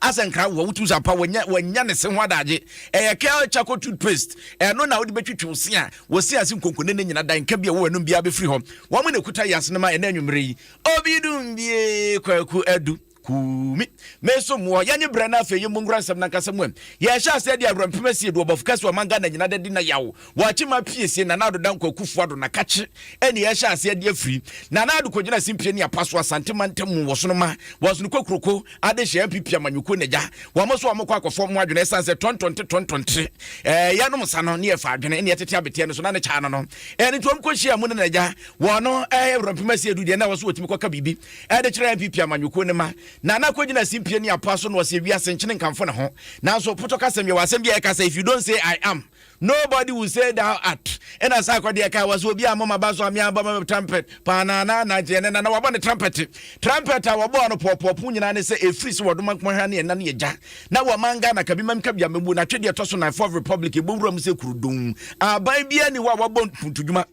asɛ nkra wo wotumi sɛ apa wɔnya wɔnya ne se ho adagye ɛyɛ kɛl charcoal toothpaste ɛno na wode bɛtwitwi wo se a wɔsi ase nkonkone ne nyina da nka bi a wɔwɔ ɛnom biara bɛfiri hɔ wɔn na ɛkuta yɛ asene ma ɛna anwummerɛ yi obi dum bie kwaku adu kumi meso mu ɔyɛ nye brɛ no afei yɛ mu nkora nsɛm nankasa mu ɛ yɛhyɛ aseɛ de awerɛmpem asie do ɔbɔfo kɛse ɔman ghana nyina da di na yaw Boakyima pie sie Nana Ado Dankwa Akufo Ado na Kakye ɛne ɛhyɛ ase adi afiri. Nana Ado kɔgyina simpie ne apa so Asante mantam mu wɔ Sonoma, Wɔsono Kokuroko, Adehyɛ NPP amanyɔkuo na gya. Wɔn nso wɔn kɔ akɔfɔ wɔn adwene ɛsan sɛ tɔntɔnte tɔntɔnte ɛɛ yɛnom nsa no ne yɛfa adwene ne yɛtete abeteɛ no so na ne kyaa no no. Ɛɛ ne nti wɔn kɔ hyia mu ne na gya. Wɔn no ɛɛ awurampem asi edu deɛ na wɔso wɔtumi kɔka biribi ɛde kyerɛ NPP amanyɔkuo ne ma. Nana kɔgyina simpie ne apa so na ɔsɛ wiase nkyene nkamfo ne ho. Nanso potɔ kasɛm yɛwɔ asɛm bi a ɛka sɛ if you don't say I am Nobody will say thou art. Ɛna saa akɔdeɛ kaa wa sɛ obi a moma ba so ame abɔ ma trumpet paa na na na gyeɛ ne na na wabɔ ne trumpet trumpet a wɔbɔɔ no pɔɔpɔɔpo nyinaa ne sɛ ɛfiri sɛ wɔdoma nkoma ha ne ɛna ne ɛgya na wɔma nga na kabi mam kabia mɛbu na twedeɛ tɔ so na fourth republic ɛbɔ wura mu sɛ kurudon aban bia ni hɔ a wɔbɔ ntodwuma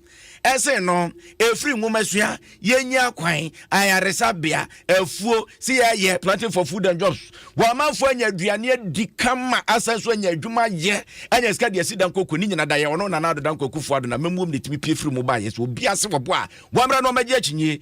Ɛsen no, ɛfiri nwomasua, yɛnnya kwan, ayaresabea, afuo, sɛ yɛyɛ planting for food and jobs. Wɔamanfoɔ anya aduane adi kama, asan so anya adwuma yɛ, anya sika de asi dankoko. Ne nyina da yɛ ɔno Nana Addo Dankwa Akufo-Addo na mmamuom na ɛtumi pie firi mu baeɛ. Sɛ obi ase wɔboa a, wɔmmra na wɔmmɛgye akyinnye.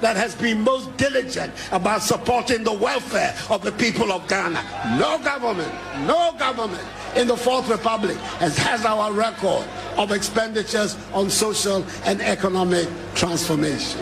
that has been most diligent about supporting the welfare of the people of Ghana. No government, no government in the Fourth Republic has, has our record of expenditures on social and economic transformation.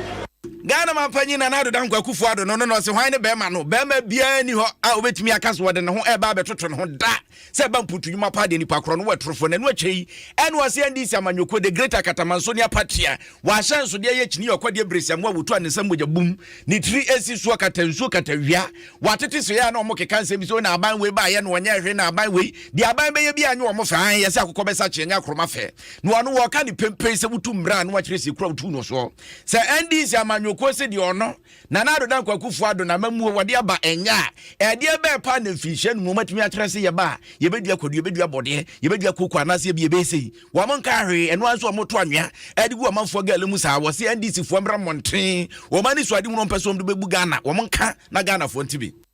ghana ma mpanyin nana ado dankwa akufo ado no no na ɔse hwan ne bɛrima no bɛrima biara ni hɔ a wobɛtumi aka so wɔde ne ho ɛreba abɛtoto ne ho da Sɛ ɛba mputu nnwuma paa deɛ nipa korɔ no wɔ atorofoɔ na ɛno akyire yi NYSC NDC amanyɔkuo the great akatamanso ne apatri a wɔahyɛ nsodeɛ yɛ kyini yɛ ɔkɔdeɛ beresi amoa wɔtu a ne nsa mogya bum ne tiri ɛsi soɔ kata nsuo kata wia wɔatete so yɛ a na wɔn keka nsɛm bi sɛ na aban wei baayɛ na wɔnyɛ hwee na aban wei deɛ aban bɛyɛ bi a nyɛ wɔn fɛ ahe yɛ sɛ akokɔ bɛsa kyeɛ nyɛ akoroma fɛ na wɔn wɔka ne pempei sɛ wotu mmra a na wɔakyerɛ si kura wotu no soɔ sɛ NDC amanyɔkuo sɛ deɛ ɔno Nana Addo Dankwa Akufo Addo na ama muo wɔde aba ɛnyɛ a, ɛdeɛ bɛɛ paa na mfirinhyia num wɔatumi akyerɛ se yɛba a, yɛbɛdua kwadu, yɛbɛdua bɔdeɛ, yɛbɛdua kooko anaase ebia ɛbɛyɛ sei. Wɔn nkaa hwee, ɛno ara nso wɔn to anwea de gu ɔmanfoɔ gala mu saa. Wɔse NDC foɔ mmra mmɔnten, wɔn anisoadehu na wɔmpɛ sɛ wɔn de bɛbu Ghana, wɔn nka na Ghanafoɔ nte bi.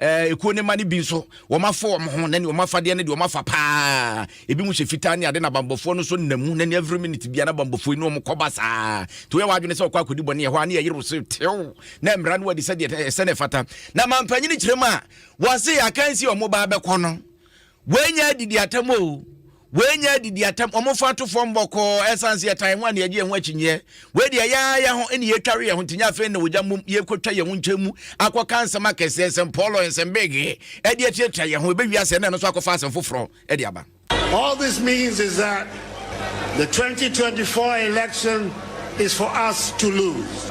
Ɛɛ, ekuo no mma no bi nso, wɔafa wɔn ho, na nea wɔafadeɛ no deɛ wɔafa paa. Ebi mu hyɛ fitaa ne ade, na bambɔfoɔ no nso nna mu, na ne every minute bia na bambɔfoɔ yi ne wɔn kɔba saa. Nti woyɛ w'adwene sɛ wɔkɔ akɔdi bɔne ɛhɔ a, ne yɛyere wo se tew, na mmara no adi sɛdeɛ ɛsɛ na ɛfata. Na mampanyini kyerɛ mu a, wɔse akansi a wɔn ba abɛkɔ no, Wei nyɛ adidi atam o. Wei nyɛ adidi atam. Wɔn fa to fam bɔkɔɔ ɛsan se ɛtan ho a na yɛgye yɛn ho akyinyeɛ. Wei deɛ yɛa yɛ ho ɛna yɛtware yɛn ho nti nyɛ afei na wɔgya mmom yɛkɔtwa yɛn ho nkyɛn mu akɔka nsɛm akɛseɛ nsɛm pɔɔlɔ nsɛm beegee ɛde atirɛtira yɛn ho ɛbɛwie asɛ na ɛno nso akɔfa asɛm foforɔ ɛde aba. All this means is that the 2024 election is for us to lose.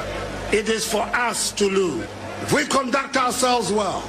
It is for us to lose. If we conduct ourselves well.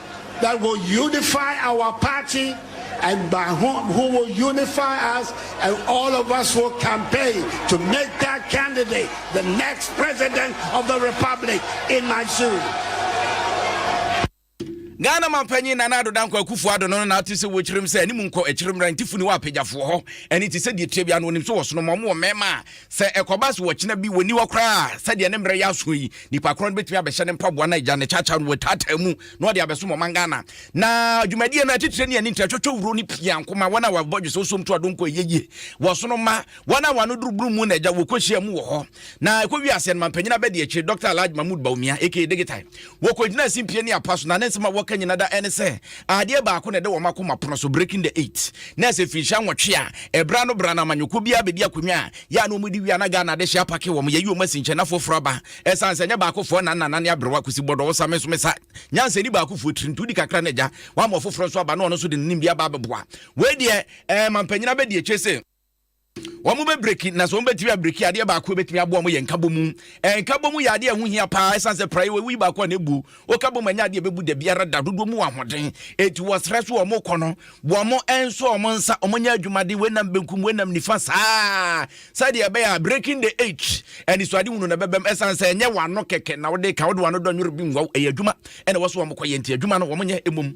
that will unify our party and by whom who will unify us and all of us will campaign to make that candidate the next president of the republic in my shoes. ghana mampanyin nana ado dankwa akufo ado no na ate sɛ wɔkyerɛm sɛ anim nkɔ akyiri mmra nti funi wɔ apagyafoɔ hɔ ɛne te sɛ deɛ tia bi ano onim so wɔ sono ma ɔmo wɔ mmarima a Sɛ ɛkɔba sɛ ɔkyena bi wɔnni hɔ koraa a, sɛdeɛ ne mmerɛ yɛ aso yi, nipa korɔ no bɛtumi abɛhyɛ ne mpaboa no agya ne kyakya no wɔtaataa mu na ɔde abɛsom ɔman Ghana. Na dwumadie no atitire ne ani ntrɛtwɔtwɔ wuro no pia nko ma wɔn a wɔabɔ dwesɛ osuom to adonko ɛyɛ yie wɔ so no ma wɔn a wɔn ano duru bunu mu na agya wɔkɔhyia mu wɔ hɔ. Na ɛkɔwie aseɛ no mampanyin abɛdi akyire Dɔkta Alhaji Mahmood Bawumia aka Digital Wɔkɔgyinaa simpie ne apa so, na ne nsɛm a wɔka nyinaa da ɛne sɛ adeɛ baako na ɛda wɔn akoma pono so, breaking the eight. Na ɛsɛ mfirinhyia nwɔtwe a ɛberɛ ano berɛ ano amanyɔkuo biara bɛdi akonnwa a yɛ a na wɔdi wie a na Ghana adehyeɛ apake wɔn, yɛyi wɔn asi nkyɛn na foforɔ aba. Ɛsiane sɛ ɛnyɛ baakofoɔ na nna nane aberewa, Kwesi Bɔdɔ wo sa, me nso me sa nyansani baakofoɔ tiri nti wodi kakra na agya wama ɔfoforɔ nso aba na ɔno nso de ne nimdeɛ aba abɛboa. Wei deɛ ɛɛ mampanyin abɛdi akyire se. wɔbɛbreki, na sɛ wɔbɛtumi abreki adeɛ baako ɛbɛtumi aboa wɔn yɛ nkabɔmu nkabɔmu yɛ adeɛ a ɛho hia paa ɛsiane sɛ praeɛ wɔwuyi baako a na ɛbu woka bɔ mu ɛnyɛ adeɛ ɛbɛbu da biara da dodoɔ mu ahoɔden ɛti wɔsrɛ so wɔn kɔ no wɔn nso wɔn nsa wɔn nyɛ adwumaden wɔnam benkum wɔnam nifa saa sɛdeɛ ɛbɛyɛ a breaking the age anisoade hunu na ɛbɛbɛm ɛsiane sɛ ɛnyɛ wano kɛkɛ na wode ka wode wano dɔ nwere bi nwaw ɛyɛ adwuma ɛna wɔso wɔn kɔ yɛ nti adwuma no wɔn nyɛ mmom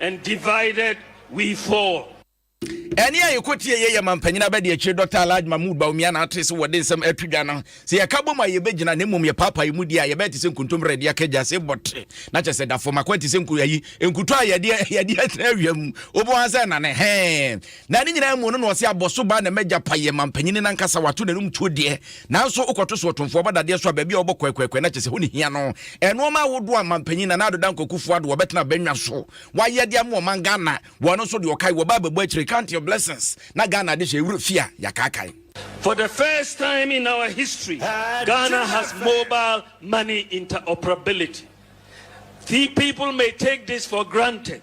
and divided we fall. Ɛne a yɛkɔ tie yɛ yɛ ma mpanyin abɛde akyire Dɔkta Alhaji Mahmood Bawumia na ate sɛ wɔde nsɛm ato dwa no sɛ yɛka bom a yɛbɛgyina na mmom yɛpaapae mu di a yɛbɛyɛ te sɛ nkontommire a yɛde akɛ gya se bɔte na kyɛ sɛ da fam akwan te sɛ nku ayi nkuto a yɛde yɛde atena awia mu wobɔ ha sɛ nane hɛn Na ne nyinaa mu ɔno na ɔse abɔso baa na m'agya payɛ mampanyini no ankasa wato n'anum tuo deɛ nanso wokɔto so ɔtomfoɔ ɔba dadeɛ so a baabi a ɔbɔ kwɛkwɛkwɛ na kyɛsɛ hɔ ne hia no ɛnoɔma ahodoɔ a mampanyin Nana Ado Dankwa Kufuor Addo ɔbɛtena bɛnwa so wayɛ de ama ɔman Ghana wɔ ɛno nso deɛ ɔkae wɔ baa bɛbɔ akyire count your blessings na Ghana ade hyɛ ɛwura fie a yɛakaakae. For the first time in our history, Ghana has mobile money interoperability. Few people may take this for granted.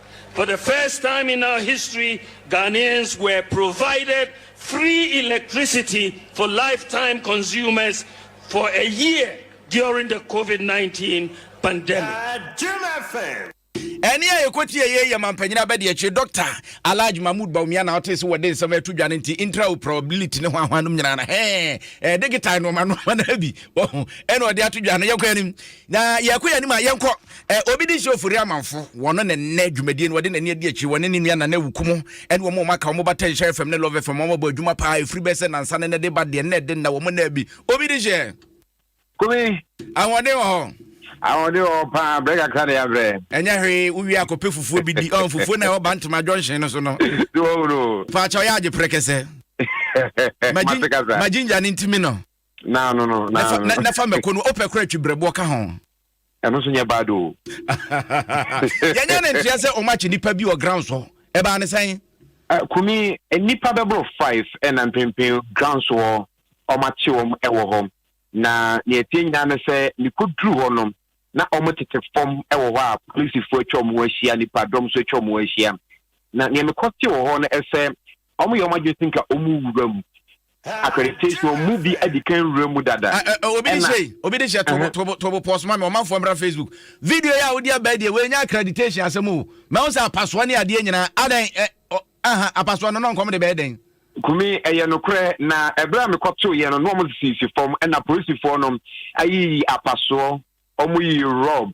For the first time in our history, Ghanaians were provided free electricity for lifetime consumers for a year during the COVID-19 pandemic. ɛne a yɛkɔtie yei yɛ mampanyin abɛdeɛkyerɛ dɔkta alage mahmud baumia na wote sɛ wɔde nsɛm ato dwa no nti intraoperability ne ho ahoa nom nyinaa no he ɛde getae noɔma noɔma no bi ɛna ɔde ato dwa no yɛkɔ anim Na yɛkɔ yɛn anim a yɛnkɔ eh, obi de nhyɛ ofori amanfo wɔn na nnɛ dwumadie no wɔde n'ani adi akyiri wɔne ne nua nana awuku mu ɛne wɔn a wɔn aka wɔn ba tɛnhyɛ fam ne love fam wɔn abɔ adwuma paa ɛfiri bɛsɛ nansa ne ne de ba deɛ nnɛ de nna wɔn nna bi obi de hyɛ Kumi, ahoɔden wɔ hɔ ahoɔden wɔ hɔ paa, brɛ kakra na yɛabrɛ. ɛnyɛ hwee wowie akɔpɛ fufuo bi di ɔn fufuo na ɛwɔ bantama junction no so no Sɛ wahu no o. paakyɛ ɔyɛ agye prɛkɛsɛ Ma te kasa. ma ginger no ntimi no na no no na no na fa mako no opɛ kora twi brɛboɔ ka ho ɛno so nyɛ bad o yɛnyɛ ne nteɛ sɛ ɔma kye nipa bi wɔ ground so ɛbaa ne sɛn eh, kumi nipa bɛboro five ɛna mpempen ground so hɔ ɔma kye wɔm ɛwɔ hɔ na neɛ tie nyinaa ne sɛ mekɔduru hɔ no na wɔtete fam wɔ hɔ a polisifo atwa wɔn ho ahyia, nnipadɔm nso atwa wɔn ho ahyia. Na nea mekɔ te wɔ hɔ no sɛ wɔyɛ wɔn adwene sɛ nka wɔwura mu. Accreditation wɔn mu bi adi kan wura mu dada. Obi de hyɛ obi de hyɛ tobo tobo tobo pɔs ma me ɔmanfoɔ mmra Facebook. Video yi a wodi abɛɛ deɛ wɔanya accreditation asɛm o. Mɛho sɛ apasoɔ ne adeɛ nyinaa adan Aha, apasoɔ no, na ɔnkɔm de bɛyɛ dɛn? Kumi, Ɛyɛ nokorɛ, na ɛberɛ a mekɔtoeɛ no, na wɔsisisi fam, ɛna polisifoɔ no ayiyi apasoɔ, wɔyiyi rɔb,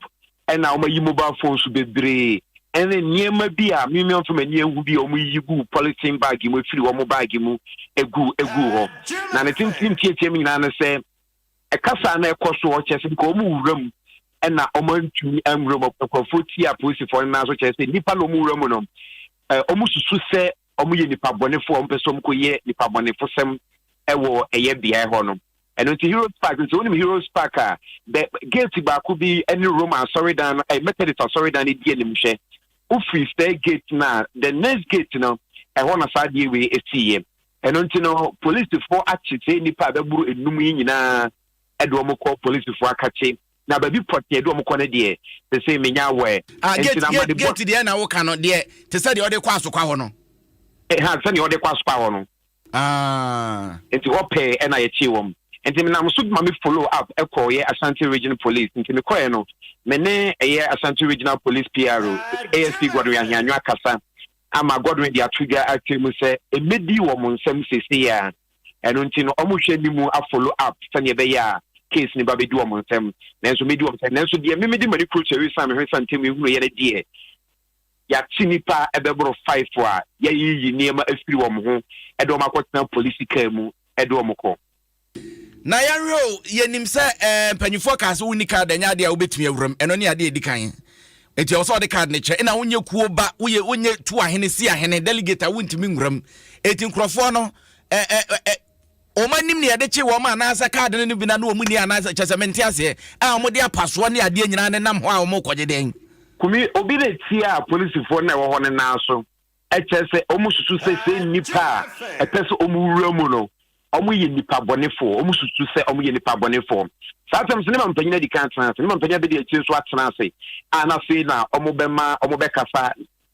ɛna wɔayi mobile phones bebree, ɛne nneɛma bi a me mamfa m'ani anhu bi a wɔyiyi gu polythene bag mu, ɛfiri wɔn bag mu gu gu hɔ. Na ne tentene nteateam nyinaa ne sɛ, Ɛkasa a na ɛkɔ so hɔ kyerɛ sɛ nka wɔn wura mu na wɔn antumi anwura mu. Nkurɔfoɔ tia apolisifoɔ no nan so kyerɛ sɛ nnipa na wɔn wura mu no, wɔn susu sɛ wɔn yɛ nipa bɔnefoɔ, wɔn pɛ sɛ wɔn kɔ yɛ nipa bɔnefosɛm wɔ ɛyɛ beaɛ hɔ no. Ɛno nti Heroes Park nti wɔn nim Heroes Park a, the gate baako bi ɛne Roma asɔredan no, ɛyɛ Methodist asɔredan no di anim hwɛ. Wofiri sɛ gate no a, the next gate no, ɛhɔ na saa adeɛ wei ɛsiiɛ. Ɛno nti no, polisifo akye saa nnipa a bɛboro enum yi nyinaa de wɔn kɔ polisifo akakye. Na baabi pɔtee a ɛde wɔn kɔ no deɛ, sese menya aware. Ah, Ɛnti gate, na gate, amanebɔ. gate deɛ na woka no, deɛ te sɛ deɛ wɔde kɔ Asokwa hɔ no. Ɛha, sɛnea wɔde kɔ Asokwa hɔ no. Ah. Nti hɔ pɛɛ ɛna yɛkyee wɔn. Nti menam so ma me follow up kɔɔeɛ Ashanti Region Police. Nti mekɔɔeɛ no, me ne ɛyɛ Ashanti Regional Police PRO, ASP Godwin Ahianwia kasa. ama Godwin de ato dwa akyerɛ mu sɛ ɛmmɛdi wɔn nsam seesei yi ara. Ɛno nti no, wɔrehwɛ anim a-follow up sɛdeɛ ɛbɛyɛ a case no bɛabɛdi wɔn nsam. Nanso medi wɔn sɛ, nanso deɛ me mede m'ani kuro kyerɛ ɛsiane me hwesa ntam yi hunuiɛ no deɛ, yɛate nnipa bɛboro five a yɛayiyi nneɛma afiri wɔn ho de wɔn akɔtena polisi kaa mu de wɔn kɔ. Na yɛnhwɛ o, yɛnim sɛ ɛɛ mpanimfoɔ kaa sɛ wonni kaad ɛnyɛ adeɛ a wobɛtumi awura mu ɛno ne adeɛ ɛdi kan nti ɛwɔ sɛ wɔde kaad no kyɛ ɛna wonyɛ kuo ba woyɛ wonyɛ tu ahene si ahene delegate a wontumi nwura mu ɛti nkurɔfoɔ no ɛɛ wɔn anim ne yɛde kye wɔn anaasɛ kaad no no bi na ne wɔn ni anaasɛ kyɛ sɛ mente aseɛ a wɔde apasoɔ ne adeɛ nyinaa ne nam hɔ a wɔkɔgye dɛn kumi obi na etia polisifoɔ na ɛwɔ hɔ no nan so ɛkyerɛ sɛ wɔsusu sɛ sɛ nnipa a ɛpɛ sɛ wɔwura mu no wɔyɛ nnipa bɔnefoɔ wɔsusu sɛ wɔyɛ nnipa bɔnefoɔ saa asɛm sɛ ne ma mpanyin adi kan atena ase ne ma mpanyin abɛdi akyire nso atena ase a na afei na wɔbɛma wɔbɛkasa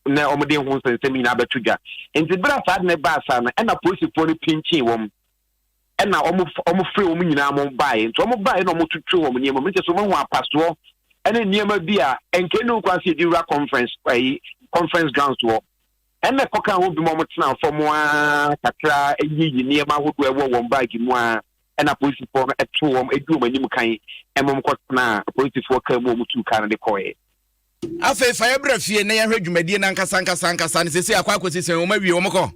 na wɔde ho nsɛnsɛm nyinaa bɛto dwa nti berɛ a saa de no baa saa no ɛna polisifoɔ no pinkyin wɔn ɛna wɔn wɔn firi wɔn nyinaa wɔn baeɛ nti wɔn baeɛ na wɔn tutu wɔn nneɛma mu nkyɛn so wɔn ho apasoɔ ɛne nneɛma bi a nkɛn ne nkɔ ase yɛde wura conference ɛyi conference grounds wɔ ɛna kɔka ho bi mu wɔn tena fam aa kakra ɛyiyi nneɛma ahodoɔ ɛwɔ wɔn baagi mu aa ɛna polisifoɔ no ɛto wɔn ɛdi wɔn anim kan ɛma wɔn kɔ tena polisifoɔ kaa mu wɔn tu kaa no de kɔɛ. afei fa yɛ brɛ fie na yɛhwɛ dwumadie no ankasa ankasa ankasa no sɛsi akɔ akɔsi sɛn wɔn awie wɔn kɔ.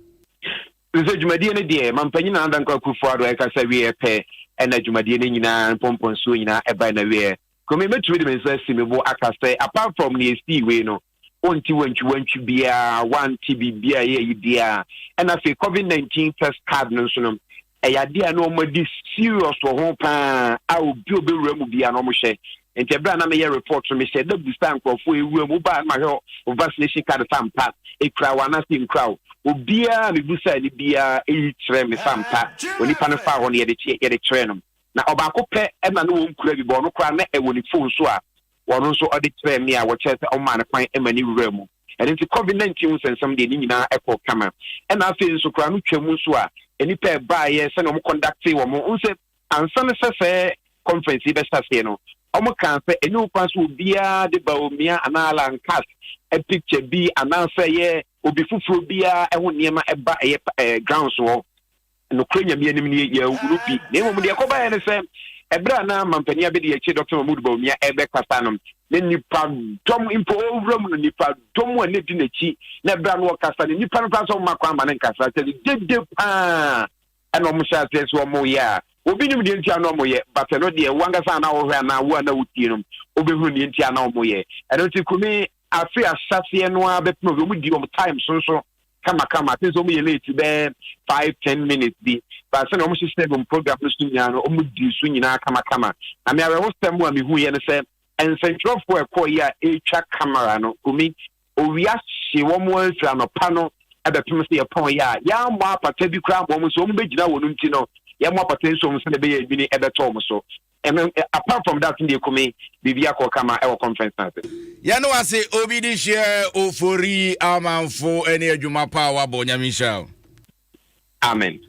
Nso dwumadie no deɛ mampanyin Nana Dankwa Akufo-Addo ɛkasa wieɛ pɛ ɛna dwumadie no nyinaa mpɔmpɔnsuo nyinaa ɛbae na wieɛ. Kome mɛtumi de me nsa asi me bo aka sɛ apart from nea ɛsii wei no wonte wantwiwantwi biara, wante biribi a ɛyɛ ayi biara. Ɛna afei covid 19 test card no nso no ɛyɛ adeɛ a na wɔadi serious wɔ ho paa a obi a ɔbɛwura mu biara na wɔhyɛ Nti bere a na meyɛ report no, mehyɛɛ da bisaa nkurɔfo a ewuram, wobaa no ma hwɛ wo vaccination card fa mpa, ekura wo anaasɛ enkura wo. Obiara a mibisaa no biara eyi kyerɛɛ me fa mpa. Onipa no faa hɔ no, yɛde kyeɛ, yɛde kyerɛɛ no. Na ɔbaako pɛ na na onkura bi, but ɔno koraa na ɛwɔ ne phone so a ɔno nso ɔde kyerɛɛ me a wɔkyerɛɛ sɛ ɔmaa no kwan ma no wuraa mu. Ɛno nti Covid nineteen ho nsɛnsɛm deɛ ne nyinaa ɛkɔɔ kama. Ɛna afei nso koraa no twam nso a nnipa a ɛbaeɛ sɛnea wɔconductee wɔn ho, wohu sɛ Ansa na sɛ sɛɛ conference yi bɛhyɛ aseɛ no, wɔn kaa sɛ ɛnyɛ okwan sɛ obiara de Bawumia anaa Alan Katz picture bi anaa sɛ ɛyɛ obi foforɔ biara ho nneɛma ba ɛyɛ ɛɛ grounds hɔ. Nokorɛ Nyame anim nie, yɛanhunu bi. Na mmom deɛ ɛkɔbaeɛ ne sɛ, ɛberɛ a na Mampanin Abɛdiakyire Doctor Mahmood Bawumia rebɛkasa no, na nnipa dɔm mpo ɔrewura mu no, nnipa dɔm a na ɛdi n'akyi, na ɛberɛ a na ɔrekasa no, nnipa no koraa nso mma kwan mma no nkasa, kyerɛ sɛ dede paa. Ɛna wɔn hyɛ aseɛ sɛ wɔn yɛ a obi nim deɛ nti a na wɔn yɛ but ɛno deɛ wo ankasa a na wo hwɛ anaa wo a na wo tie no wobɛhunu deɛ nti a na wɔn yɛ ɛno nti kumi afiri ahyɛseɛ no ara bɛpem obi wɔn di wɔn time so nso kama kama ati nso wɔn yɛ late bɛɛ five ten minutes bi but sɛnea wɔn hyehyɛ wɔn program no so nyinaa no wɔn di so nyinaa kama kama na me awɛho sɛm a mehu yɛ no sɛ nsɛntwerɛfoɔ ɛkɔɔ yi a ɛretwa camera no kumi Owia hye wɔn ara firi anɔpa no bɛpem sɛ yɛpɔn yɛ a, yɛammɔ apata bi koraa ama wɔn nso wɔbɛgyina wɔn nti no, yɛmmɔ apata nsi wɔn sɛdeɛ ɛbɛyɛ nwini bɛtɔ wɔn so. Ɛno, apart from that no deɛ Kumi, biribi akɔ kama wɔ conference no ase. Yɛne wo ase Obi de hyia Ofori amanfo ne adwuma pa a wabɔ. Nyame nhyira wo. Amen.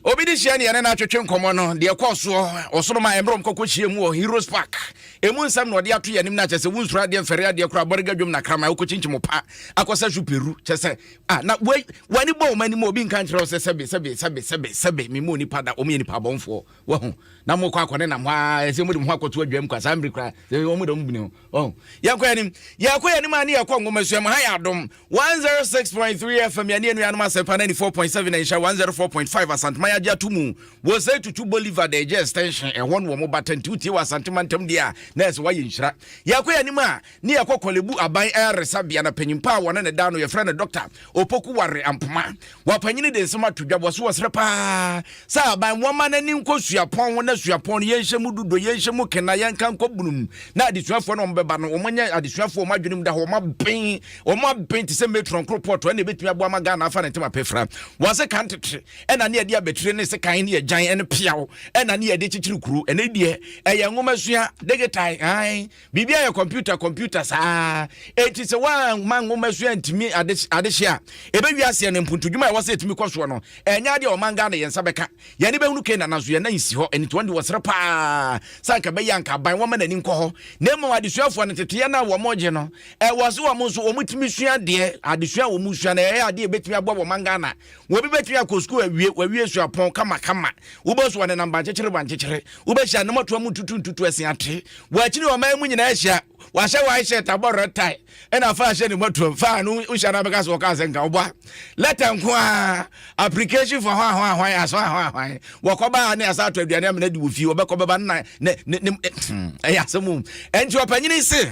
Obi de hyia ne yɛne no atwetwe nkɔmmɔ no deɛ ɛkɔɔ soɔ ɔsoro ma ɛmmerɛ ɔmkɔkɔ hyia mu wɔ Heroes Park ɛmu nsɛm na ɔde ato yɛ anim no akyɛ sɛ wonsuro adeɛ mfɛre adeɛ kora abɔrega dwom na krama wokɔkyinkyim pa akɔsɛ so peru kyɛ sɛ ah, na w'ani bɔ wɔn anim obi nka nkyerɛ wo sɛ sɛbe sɛbe sɛbe sɛbe sɛbe memmɔ nipa da wɔn yɛ nipa abɔnfoɔ wahu na mokɔ akɔne nam hɔ a ɛsɛ mode mo ho akɔto adwam kwa saa mmere kora wɔn da mu bini ho Oh, yɛnkɔ yɛn anim, yɛkɔ yɛn anim a ne yɛkɔ nwomasua mu. Ha yɛ adom 106.3 FM yɛne anuanom asɛmpa 94.7 na nhyɛ 104.5 Asantuma yɛagye ato mu wɔ sɛ tutu Bolivar da ɛgye extension ɛhɔ no wɔ mo bata nti wotie wɔ Asante mantam deɛ a na ɛsɛ woayɛ nhyira. Yɛkɔ yɛn anim a ne yɛkɔ kɔlebu aban ayaresabea na panyimpa a wɔne ne da no yɛfrɛ no Dr. Opoku ware ampoma. Wapanyini de nsɛm ato dwa wɔso wɔsrɛ paa sɛ aban wɔma no ani nkɔ suapɔn ho na suapɔn no yɛnhyɛ mu dodo yɛnhyɛ mu kena yɛnka nkɔ bunum na adesuafoɔ no wɔbɛba no wɔnyɛ adesuafoɔ wɔn adwenem da hɔ wɔn aben wɔn aben te sɛ metron koropɔtɔ ɛna ɛbɛtumi aboa ma Ghana afa ne ntɛm apɛfra wɔse kan tete ɛna ne yɛde abɛtire ne se kan ne yɛgyan ɛne peaw ɛna ne yɛde kyekyere kuro ɛne deɛ ɛyɛ nwoma sua degetae Biribi ayɛ kɔmputa kɔmputa saa. Enti sɛ woamma nwoma so antumi ade adehye a, ɛbɛwie aseɛ no mpontodwuma a ɛwɔ sɛ ɛtumi kɔ soɔ no, ɛnyɛ adeɛ a ɔman Ghana yɛn nsa bɛka. Yɛn ani bɛhunu Canaan nanso yɛn nan nsi hɔ. Ɛno nti wɔn de wɔsrɛ pa ara sɛ anka ɛbɛyɛ anka aban wɔmma n'ani nkɔ hɔ. Na mmom adesuafoɔ no teteɛ no a wɔgye no, ɛwɔ sɛ wɔn nso wɔtumi sua adeɛ. Adesua a wɔsua no ɛyɛ adeɛ a ɛbɛtumi aboa wɔn man Ghana Obi bɛtumi akɔ sukuu awie, wawie suapɔn kamakama. Wobɔ so anenam bankyekyere bankyekyere. Wobɛhyɛ anamatoa mu tutu ntutu asin ate. Wɔ akyiri ɔman mu nyinaa ahyia. Wahyɛ white shirt abɔ red tie. Ɛna fa ahyɛ ne matoam. Fa no nhyɛ no abɛka sɛ wɔka sɛ nka ɔbɔ a. Lɛtɛ nko ara. Application for hwan hwan hwan aso hwan hwan. Wɔkɔba a ne asa ato aduane amena di wɔ fie. Wɔbɛkɔ bɛba na ne ne ne ɛyɛ asɛm o. Ɛnti ɔpanyini se.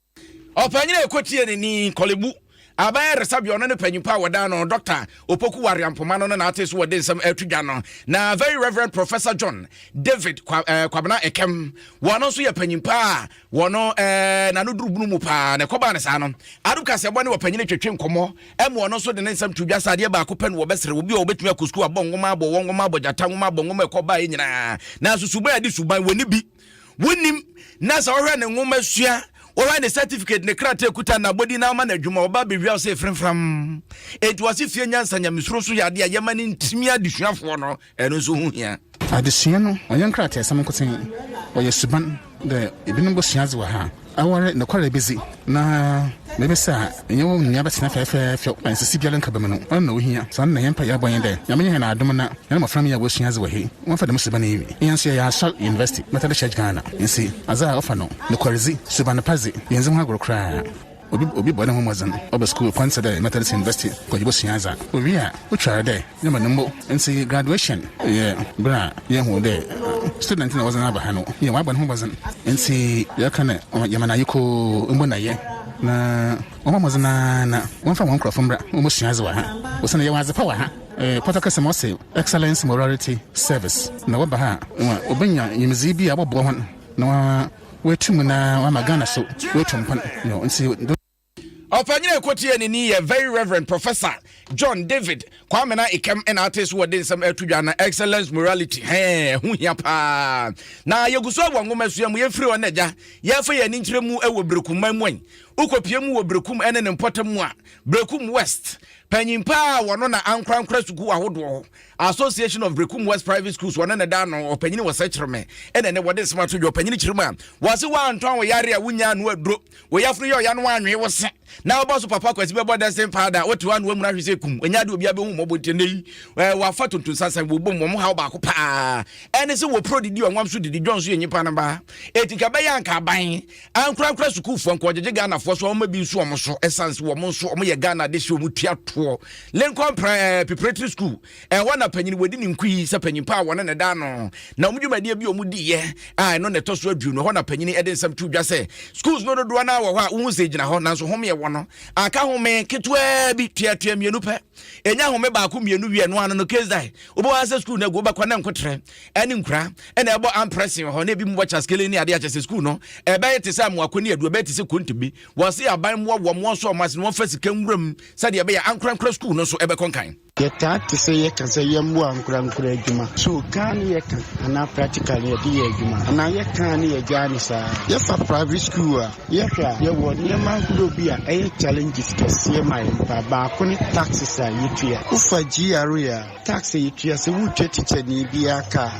Ɔpanyin a ɛkɔ tie n'ani, Korle-Bu, Aban Ayaresabea ɔno ne panyimpa a wɔdan no Dɔkta Opoku Ware-Ampoma no ne n'ate so wɔ de nsɛm ɛreto dwa no na Very Reverend Professor John David Kwabena Ekem wɔno nso yɛ panyimpa a wɔno ɛɛ n'ano duru bunu mu paa na ɛkɔbaa ne saa no Adom Kaseɛbɔ ne ɔpanyin twetwe nkɔmmɔ ɛma ɔno nso de ne nsɛm to dwa sɛ adeɛ baako pɛ na wɔbɛsrɛ obi a wɔbɛtumi akɔ sukuu abɔ nwoma abɔ wɔn nwoma abɔ gyata nwoma abɔ nwoma ɛkɔbaa yɛ nyinaa nanso suban a yɛde suban wɔn ni bi wonim na sɛ wɔhwɛ ne nwoma sua wɔhwɛ ne certificate ne krataa kuta na abɔdi na ama no adwuma ɔba bɛwia sɛ frɛmfram enti wɔse fie nyansa nyamesuro so yɛ adeɛ a yɛma no ntimi adesuafoɔ no ɛno nso ho hia adesua no ɔyɛ nkrataasɛm nkoten ɔyɛ suban dɛ ebinom bɛsua adze wɔ ha Awɔre nokware bedzi, na biribi sɛ a, enye wo nua bɛtsena fɛɛfɛɛfɛw na nsisi biara nnka bm'mu. Ɔno na ohia. Saa no na hɛn mpaa yɛbɔ nye dɛ, Nyame nyɛ hɛn adom na hɛn mbofra mma woesua adze wɔ he, wɔmfa dɛm suban yi nwie. Hɛn so yɛyɛ Asɔr University Methodist Church Ghana, ntsi adze a ɔfa no nokwardzi, suban pa dze, yenndzi ho agor koraa. Obi bɔ noho mbɔdzen, ɔba skuul kwan tse dɛ Methodist University kɔ yebosua adze a, owie a, otwar dɛ Na ma no mbo ntsi graduation yɛ ber a yehu dɛ student na wɔdze aba ha no yɛ wɔabɔ no ho mbɔdzen ntsi yɛka dɛ yɛma no ayekoo mbo na yɛ na wɔmbɔ mbɔdzen ara na wɔmfa hɔn nkorɔfo mbra na wɔmbosua adze wɔ ha osiandɛ yɛwɔ adzepa wɔ ha. Pɔtɔ kɛse mu ɔse Excellence Morality Service na wɔba ha a wobenya nyimdzee bi a ɔbɔboa hɔn na wɔaetu mu na wɔama Ghana so woetu mpon ntsi do. Ɔpanyin a ɛkɔtiee ne ni yɛ Very Reverend Professor John David Kwame na Ikem na ate so wɔde nsɛm ɛto dwa na Excellence Morality hɛn ɛho hia paa na yɛgu so wɔ nwoma sua mu yɛfiri hɔ na agya yɛfa yɛn ani nkyerɛ mu wɔ Berekum man mu ɛn wokɔpie mu wɔ Berekum ɛne ne mpɔtam mu a Berekum West panyin paa a wɔno na ankorankora sukuu ahodoɔ Association of Berekum West Private Schools wɔne ne da no ɔpanyin wɔ sɛ kyerɛ me ɛna ne wɔde nsɛm ato dwa ɔpanyin kyerɛ mu a wɔse wɔantɔn wɔ yare a wonya ano aduro Wo yafunu yɛ ɔya no anwee wo se na wobɔ so papa kwasi bɛbɔ dɛsen paa da wote hɔ a na wamuna hwe sɛ kum ɛnyɛ ade obiara bɛhu mmɔbɔ nti ɛnɛ yi wafa tontonsansan wɔbom wɔn haw baako paa ɛne sɛ wɔpro didi ɔnwam so didi dwɔn so yɛ nnipa no baa ɛti ka bɛyɛ anka aban ankorankora sukuufoɔ nka ɔgyegye ghanafoɔ so ɔma bi nso wɔn so ɛsiane sɛ wɔn nso wɔyɛ ghana de hyɛ wɔn tua toɔ lincoln preparatory school Ɛhɔ na panyin wɔdi ne nkui sɛ panyin pa a wɔne ne da ano. Na wɔn dwumadie bi a wɔdiiɛ a ɛno na ɛtɔ so aduonu. Ɛhɔ na panyin de nsɛm to dwa sɛ schools no dodoɔ no ara wɔ hɔ a wohu sɛ gyina hɔ nanso home ɛwɔ no aka home ketewaa bi tuatua mmienu pɛ. Ɛnya home baako mmienu wie no ano no case die. Wobɛwɔ ara sɛ school no agu wobɛkɔ na nkotrɛ ɛne nkura ɛna ɛbɔ amprɛsen wɔ hɔ na ebi mu bɔ kyaskele ne adeɛ akyɛ sɛ school no ɛbɛyɛ te sɛ amoako ne aduo ɛbɛyɛ te sɛ kontombi. Wɔse aban mmoa wɔn wɔn so wɔn ase na wɔmfa sika nwura mu sɛdeɛ ɛbɛyɛ ankorankora school no nso ɛbɛkɔ nkan. Yɛtaa te sɛ yɛka sɛ yɛmmoa ankorankoro adwuma. So kaa ne yɛka anaa practical na yɛde yɛ adwuma? Anaa yɛkaa ne yɛgyaa no saa? Yɛfa private school a yɛhwɛ a, yɛwɔ nneɛma ahorow bi a ɛyɛ challenges kɛseɛ ma yɛn paa. Baako ne taxes a yɛtua. Wofa GRA a, tax a yɛtua sɛ woretua tikyani biara ka a,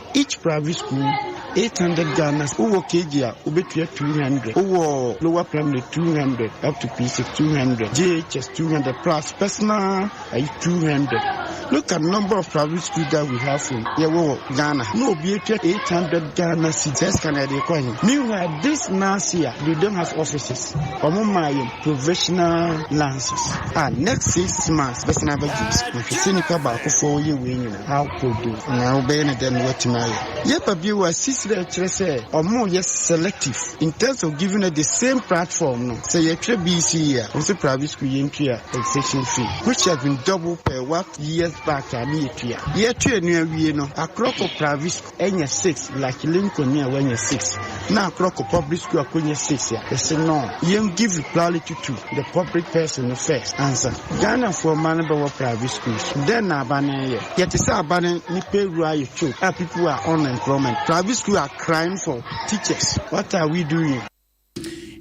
Each private school, eight hundred Ghana cedis, wowɔ KG a wobɛtua two hundred, wowɔ lower primary two hundred up to P six two hundred, JHS two hundred plus personal ayi two hundred. Look at number of private schools that we have in yɛwɔ wɔ Ghana ha na obi atua eight hundred Ghana cedis saa sika no ɛde kɔ he? Meanwhile this last year they don't have offices wɔn maa yɛn provisional lances a next six months bɛsan abɛgye nso mehwɛ sɛ nipa baako foɔ yɛ wei nyina. akɔ do. Na wobɛyɛ no dɛn na woatumi ayɛ? Yɛba bio a, sisi dɛ kyerɛ sɛ wɔyɛ selective in terms of giving us the same platform no. Sɛ yɛtwerɛ BECE a, wo sɛ private school yɛntua registration fee which has been double per what years back a ne yɛtua. Yɛtwerɛ no awie no, akorɔ kɔ private school. Enya six like Lincoln ni a wanya six na akorɔ kɔ public school akonya six a yɛse noo yɛn give priority to the public person no first ansa Ghana foɔ mma no bɛwɔ private schools dɛn na aba no yɛ yɛte sɛ aba no ne payroll ayɛ choke a people are on employment private school are crying for teachers what are we doing.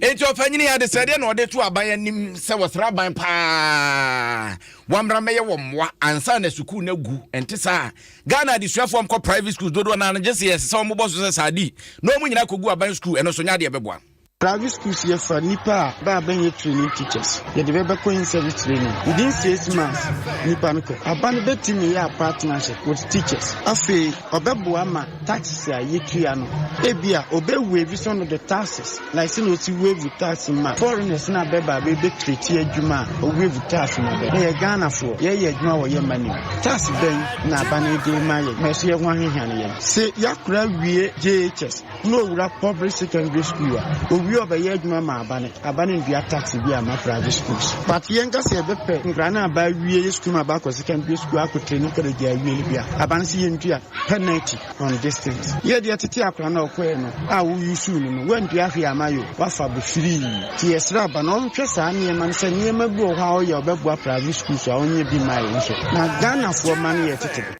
Enti ɔpanyin yi adesrɛdeɛ na ɔde to aban anim sɛ wɔsrɛ aban paa wɔmmra mmɛyɛ wɔ mmoa ansa na sukuu no agu ɛnte saa Ghana adesuafoɔ mkɔ private schools dodoɔ no ano gye sɛ yɛsɛ sɛ wɔbɔ so sɛ saadi na wɔn nyinaa kɔgu aban sukuu ɛno nso nyɛ adeɛ bɛboa Private schools yɛfa nnipa a bɛ a bɛnyɛ training teachers yɛde bɛ bɛkɔ in service training within six months nnipa no kɔ aban bɛtumi yɛ a partnership with teachers afei ɔbɛboa ma taxes a yetua no. Ebia obe waive some of the taxes like sɛ na osi waive tax ma foreigners na bɛba bɛbɛ create adwuma a o waive tax ma bɛ. Yɛyɛ Ghanafoɔ, yɛyɛ adwuma wɔ yɛn mma no mu. Tax bɛn na aba no de rema yɛn na ɛso yɛ ho ahehia no yɛn? Se Yakurah wie JHS na owura public secondary school a, owie a ɔbɛyɛ adwuma ma aba no, aba no ndua tax biaa mma private schools. But yɛnka sɛ yɛbɛpɛ nkwadaa no a aba awie yɛ sukuu ma aba akɔ secondary school akɔ training college awie no bi a, aba no se yɛntua. penalty on this things yɛ deɛ tete akora no ɔkɔɛ no a wo use no no wandua hwee ama yo wafa bo firii ti yɛsrɛ aba na ɔnhwɛ saa nneɛma no sɛ nneɛma bi wɔ hɔ a ɔyɛ ɔbɛboa private school so a ɔnyɛ bi ma yɛ nso na Ghanafoɔ ma no yɛ tete do.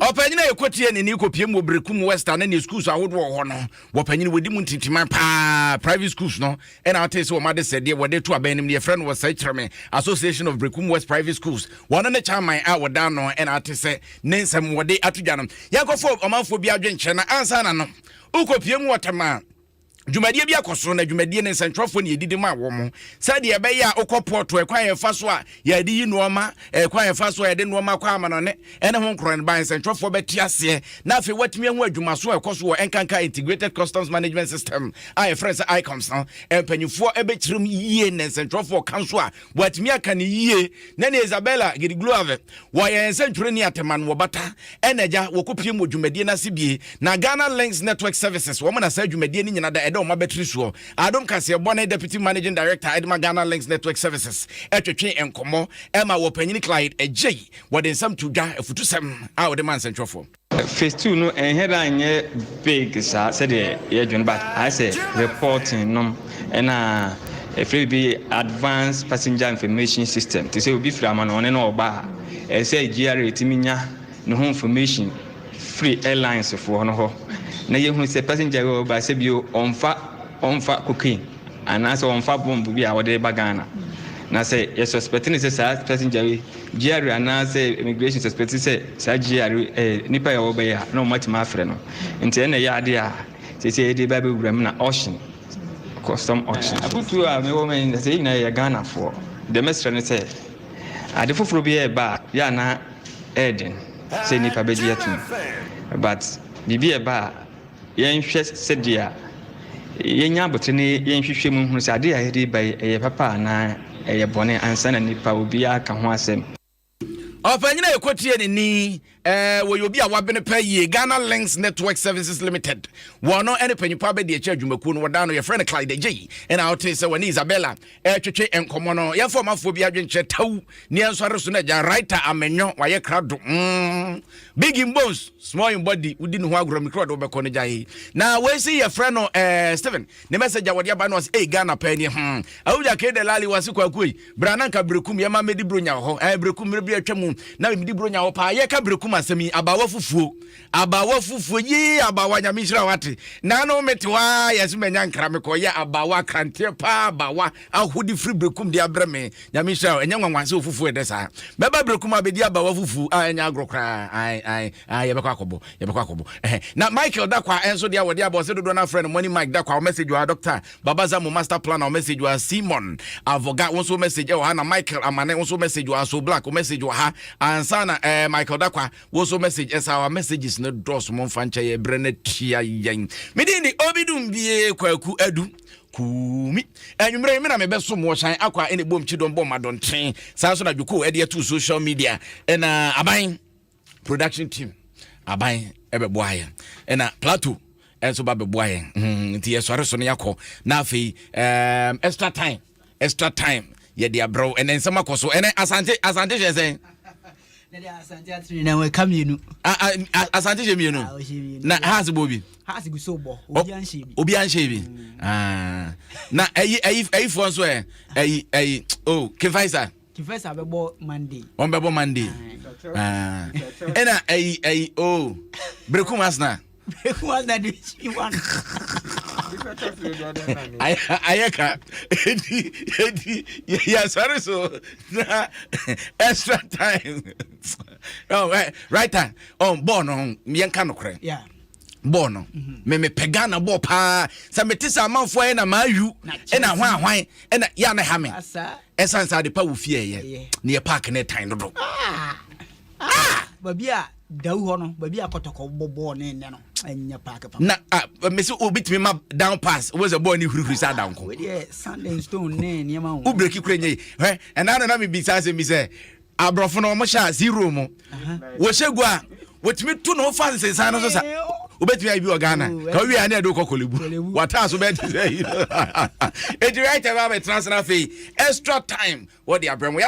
Ɔpanyin a ɛkɔ tie n'ani kɔpiem wɔ Berekum West a na ne schools ahodoɔ wɔ hɔ no, wɔpanyin wɔdi mu ntintiman paa private schools no ɛna ate sɛ wɔn adesɛdeɛ wɔde to abɛn nim no yɛfrɛ no wɔ sɛ kyerɛ me association of brekum west private schools wɔn ne chairman a wɔda ano ɛna ate sɛ ne nsɛm wɔde ato dwa no yɛnkɔfo ɔmanfoɔ bi adwenkyerɛ na ansa na no wokɔpie mu wɔtɛm a dwumadie bi akɔ so na dwumadie ne nsɛntwerɛfoɔ ne yɛdidi ma wɔ mo sɛdeɛ ɛbɛyɛ a wokɔ pɔɔto ɛkwan yɛfa so a yɛde yi nnoɔma ɛkwan yɛfa so a yɛde nnoɔma kɔ amanɔne ɛne ho nkorɔn ban nsɛntwerɛfoɔ bɛte aseɛ na afei woatumi ahu adwumaso a ɛkɔ so wɔ nkanka integrated customs management system a yɛfrɛ sɛ icoms no mpanimfoɔ ɛbɛkyerɛm yie na nsɛntwerɛfoɔ ka nso a wɔatumi aka ne yie na ne isabella gedigloave wɔyɛ nsɛntwerɛni atɛma no wɔbata ɛna agya wɔkɔpiem wɔ dwumadie no ase bie na ghana links network services wɔn na saa dwumadie no nyina da ɛda wɔn abɛtiri soɔ adom kaseɛbɔ ne deputy managing director ɛdema ghana links network services ɛtwetwe nkɔmmɔ ɛma wɔpanyini clyde agyei Wɔde nsɛm to dwa, afutusɛm a wɔde ma nsɛntwerɛfoɔ. Phase two no ɛnhɛ da nyɛ big saa sɛdeɛ yɛdwene but ayɛ sɛ reporting nom ɛna ɛfiri bi advanced passenger information system te sɛ obi firi amanɔne na ɔba a ɛyɛ sɛ GRA tumi nya ne ho information firi airlines foɔ no hɔ na yɛhunu sɛ passenger wɔ ba sɛ bio ɔmfa ɔmfa cocaine Anaasɛ wɔmfa bomb bi a wɔde reba Ghana. Na sɛ yɛ suspect no sɛ saa passenger yi GRE anaasɛ immigration suspect sɛ saa GRE yɛ nipa yɛ wɔbɛyɛ a na wɔn atumi afrɛ no. Nti ɛna ɛyɛ adeɛ a sɛsɛ yɛde ba bɛwura mu na auction custom auction. Afotuo a mewɔ ma yɛ sɛ yɛ nyinaa yɛ Ghanafoɔ. Deɛ mɛsrɛ ne sɛ ade foforɔ bi ɛreba a yɛ a na ɛyɛ den sɛ nipa bɛgye atom but biribi ɛba a. Yɛnhwɛ sɛdeɛ yɛnya abotire na yɛnhwehwɛ mu nhunu sɛ adeɛ a yɛde reba yi, ɛyɛ papa anaa ɛyɛ bɔne ansa na nnipa obiara aka ho asɛm. Ɔpanyin a yɛkɔtie ne ni, eh, wɔyɛ obi a wabene pɛ yie, Ghana Links Network Services Limited. Wɔno ne panyinfoɔ abadiakyire adwumakuo no, wɔdaa no, yɛfrɛ no Clyde Agyei, ɛna wotee sɛ wɔne Isabella ɛretwetwe nkɔmmɔ no yɛmfa ɔmafoɔ bi adwenkyerɛ tawu ne ɛnsɔre so no agya writer amenyɔ wayɛ krado mm. big in bones small in body wodi ne ho agorɔ mekura ɔde wobɛkɔ no gyae na wɔsi yɛfrɛ no eh, stephen ne mɛsɛgya wɔde aba no ɔse ei ghana paa ni hmm. awogya kede lale wase kwakuoi bra na nka berekum yɛma mɛdi buro nya wɔ hɔ eh, berekum mmerɛ bi atwa mu na memedi buro nya wɔ paa yɛka berekum asɛm yi abaawa fufuo Abaawa fufuo yii abaawa nyame nhyira wate naano mete hɔ aa yɛse manya nkra mekɔ yɛ abaawa akranteɛ paa abaawa ahode firi berekum de abrɛ me nyame nhyira ɛnyɛ nwanwa sɛ ofufuo ɛdɛ saa mɛba berekum abɛdi abaawa fufuo a ɛnyɛ agorɔ koraa ae ae ae yɛbɛkɔ akɔbɔ yɛbɛkɔ akɔbɔ ɛhɛ na Michael da kwa ɛnso deɛ wɔde abɔ ɔsɛ dodoɔ no afrɛ no money Mike da kwa message wa Dr. Babaza mo master planner message wa Simon Avoga wo nso message ɛwɔ ha na Michael Amane wo nso message wa So Black message wɔ ha ansa na ɛɛ eh, Michael da kwa Wo nso message ɛsa our messages no dɔɔso mo nfa nkyɛ yɛ brɛ no atua yɛn. Me din de obi dum bie kwaku adu kumi. Anwummerɛ me na mebɛsom wɔ hyɛn akɔ a ɛne bom kyidɔm bɔ madɔnten. Saa nso na dwoko ɛde ato social media ɛna aban production team aban ɛbɛboa yɛn ɛna plateau ɛnso ba bɛboa yɛn nti yɛsɔre so no yɛakɔ na afei extra time extra time yɛ de abrɛw ɛnɛ nsɛm akɔ so ɛnɛ asante asante hyɛ sɛn. asante atene na ɛka mmienu. asante hyɛ mmienu na haas bɔ bi. haas gu so bɔ obi anhyɛ bi. obi anhyɛ bi na ɛyi ɛyi ɛyifoɔ nso ɛ ɛyi ɛyi o kefaisa. Kifesa bɛbɔ Monday. Wɔn bɛbɔ Monday. Ah. Ɛna ɛyi ɛyi o oh. Berekum Asena. Berekum Asena de si wa. Ayɛ ka edi edi yasɔre so na extra time. Oh, eh, writer, oh, bɔɔl no yɛn ka no korɛ. Yeah. bɔɔ no me mepɛ ghana bɔɔ paa sɛ mete sɛ amanfoɔ ayɛ na maayu ɛna hwan ahwan ɛna yɛ ana ha me ɛsiane sɛ ade pa wɔ fie ɛyɛ ne yɛ park ne tan dodo ah! ah! baabi a dawu hɔ no baabi a kɔtɔkɔ bɔbɔɔ ne nnɛ no ɛnyɛ park pa na ah, mese obitumi ma down pass wobɛ sɛ bɔɔ ne hurihuri sɛ ada nko wobireki kora nyɛ ɛna no na mebisa asɛm bi sɛ Aborɔfo no wɔhyɛ a zero mu wɔhyɛ gu a wɔtumi to no fa nsensan no so sa wobɛtumi ayɛ bi wɔ ghana ka wowie a ne ɛde wokɔ kɔlebu wataa so bɛte sɛ yi ɛti right ɛbɛ abɛtena sena afei extra time wɔde abrɛ mu